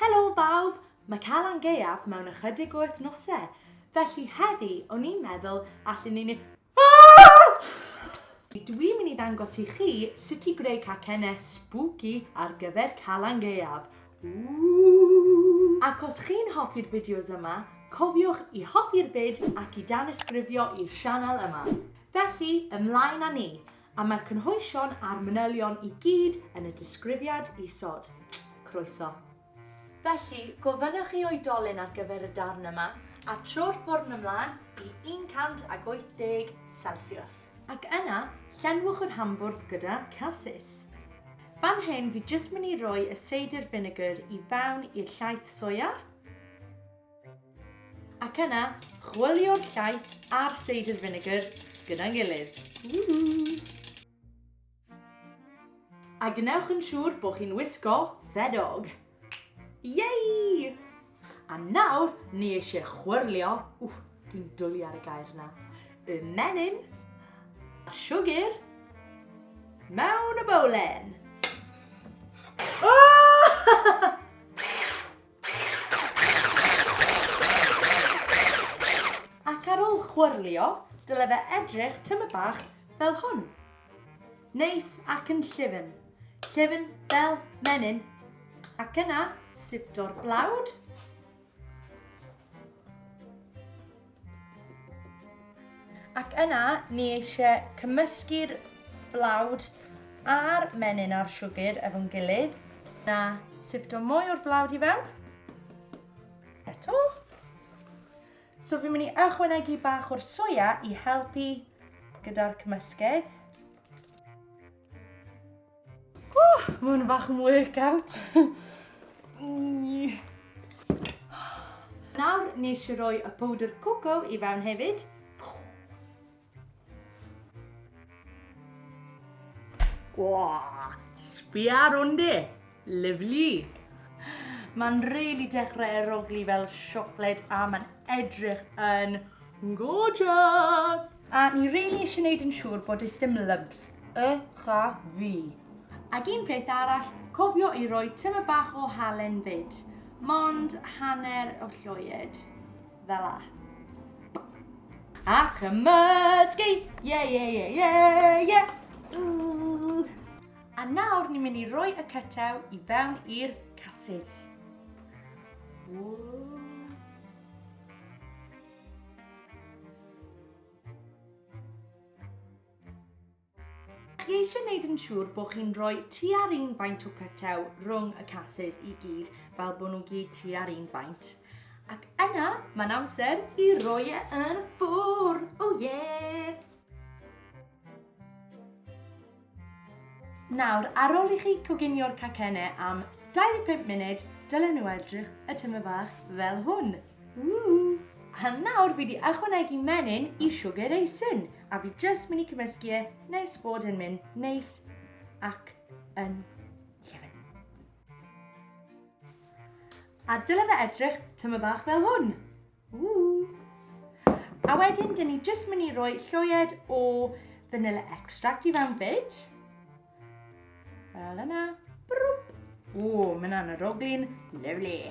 Helo bawb! Mae Calan Gaeaf mewn ychydig o wythnosau, felly heddi o'n i'n meddwl allen ni ni... Aaaahh! Dwi'n mynd i ddangos i chi sut i greu cacennau spooky ar gyfer Calan Gaeaf. Ooh! Ac os chi'n hoffi'r fideos yma, cofiwch i hoffi'r vid ac i danysgrifio i'r sianel yma. Felly, ymlaen â ni! A mae'r cynhwysion a'r manylion i gyd yn y disgrifiad isod. Croeso. Felly, gofynnwch i oedolyn ar gyfer y darn yma, a tro'r ffwrn ymlaen i 180 Celsius. Ac yna, llenwch yr hambwrdd gyda casys. Fan hyn fi jyst mynd i roi y seidr finegr i fewn i'r llaeth soia. Ac yna, chwilio'r llaeth a'r cider vinegar gyda'n gilydd. A gwnewch yn siŵr bod chi'n wisgo ffedog. Yay! A nawr, ni eisiau chwyrlio, wff, dwi'n dwlu ar y gair yna, y menyn a siwgr mewn y bowlen. Oh! Ac ar ol chwyrlio, dyle fe edrych tyma bach fel hwn. Neis ac yn llyfn. Llyfn fel menyn. Ac yna, sipto'r blawd. Ac yna, ni eisiau cymysgu'r flawd a'r menyn a'r siwgr efo'n gilydd. Na, sifto mwy o'r flawd i fewn. Eto. So fi'n mynd i ychwanegu bach o'r soia i helpu gyda'r cymysgedd. Oh, mae hwn fach yn workout. Nawr, nes i roi y powdr coco i fewn hefyd. Gwaa, sbia ar hwn de. Lyflu. Mae'n really dechrau eroglu fel siocled a mae'n edrych yn gorgeous. A ni rili isie neud yn siŵr bod does dim lubs, y cha fi. Ag un peth arall, cofio i roi tyme bach o halen fyd. Mond hanner o lloied. Fel a. A cymysgu! Ie, ie, ie, ie, ie! A nawr ni'n mynd i roi y cytew i fewn i'r casys. Ww. Chi eisiau gwneud yn siŵr bod chi'n rhoi tua'r un faint o cytew rhwng y casys i gyd fel bod nhw gyd tua'r un faint. Ac yna, mae'n amser i roi e yn y ffwr! O oh, ie! Yeah! Nawr, ar ôl i chi coginio'r cacenne am 25 munud, dylen nhw edrych y tyma bach fel hwn. Ww! A nawr fi di ychwanegu menyn i siwgr eisin, a fi jyst mynd i cymysgu e nes bod yn mynd neis ac yn llefen. A dyle fe edrych tyma bach fel hwn. A wedyn, dyn ni jyst mynd i roi lloied o vanilla extract i fewn fyd. Fel yna. Brwp. O, mae'n anaroglyn. Lovely.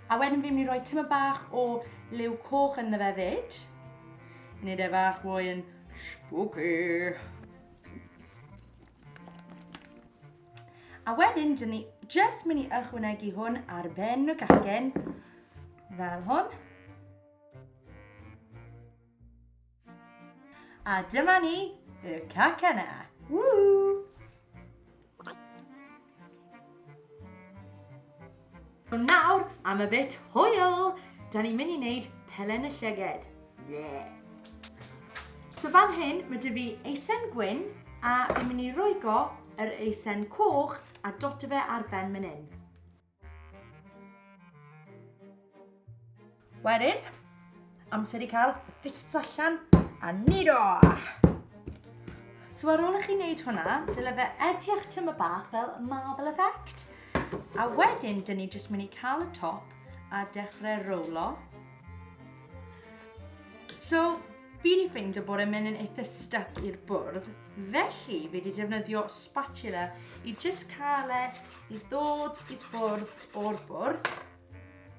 A wedyn fi'n mynd i roi tyma bach o liw coch yn fe fyd. Nid e fach fwy yn spooky. A wedyn, dyn ni jyst mynd i ychwanegu hwn ar ben y cacen, fel hwn. A dyma ni, y cacena. Woo! Nawr am y bit hwyl! Da ni'n mynd i wneud pelen y llyged. So fan hyn, mae dy fi eisen gwyn a fi'n mynd i roigo yr eisen coch a dot fe ar ben mynd hyn. Wedyn, amser i cael fists allan a nido! So ar ôl i chi wneud hwnna, dyle fe edrych tyma bach fel marble effect. A wedyn, dyn ni jyst mynd i cael y top a dechrau rowlo. So, fi wedi ffeindio bod e'n mynd yn eitha stuck i'r bwrdd, felly fi wedi defnyddio spatula i jyst cael e i ddod i bwrdd o'r bwrdd.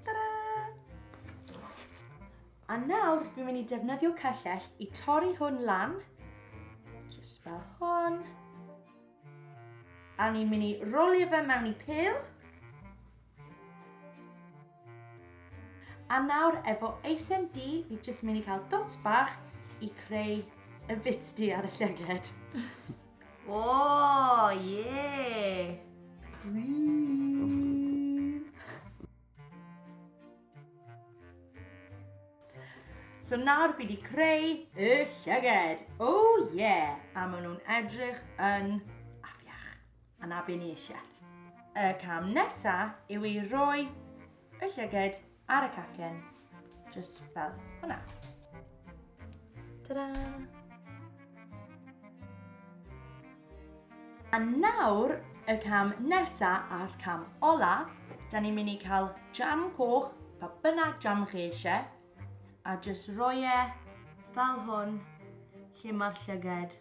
Ta-da! A nawr, fi'n mynd i defnyddio cyllell i torri hwn lan. Just fel hwn. A ni'n mynd i rolio fe mewn i pil. A nawr, efo eisen di, fi jyst mynd i cael dots bach i creu y bits di ar y llyged. O, ie! Gwir! So nawr fi wedi creu y llyged. O oh, ie! Yeah. A maen nhw'n edrych yn afiach. A na be ni eisiau. Y cam nesaf yw i roi y llyged ar y cacen, just fel hwnna. Ta-da! A nawr, y cam nesa a'r cam ola, da ni'n mynd i cael jam coch, pa bynnag jam chi eisiau, a just roi e fel hwn, lle mae'r llyged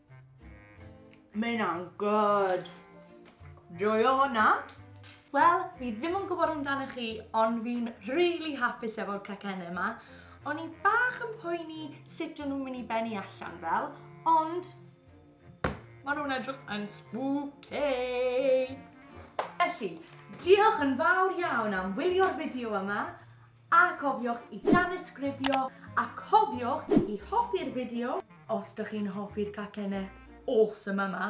Mae hynna'n good. Joio hwnna. Wel, fi ddim yn gwybod amdano chi, ond fi'n rili hapus efo'r cacennau yma. O'n i bach yn poeni sut o'n nhw'n mynd i benni allan fel, ond maen nhw'n edrych yn spooky. Felly, diolch yn fawr iawn am wylio'r fideo yma. A cofiwch i danysgrifio a cofiwch i hoffi'r fideo os dych chi'n hoffi'r cacenne awesome yma!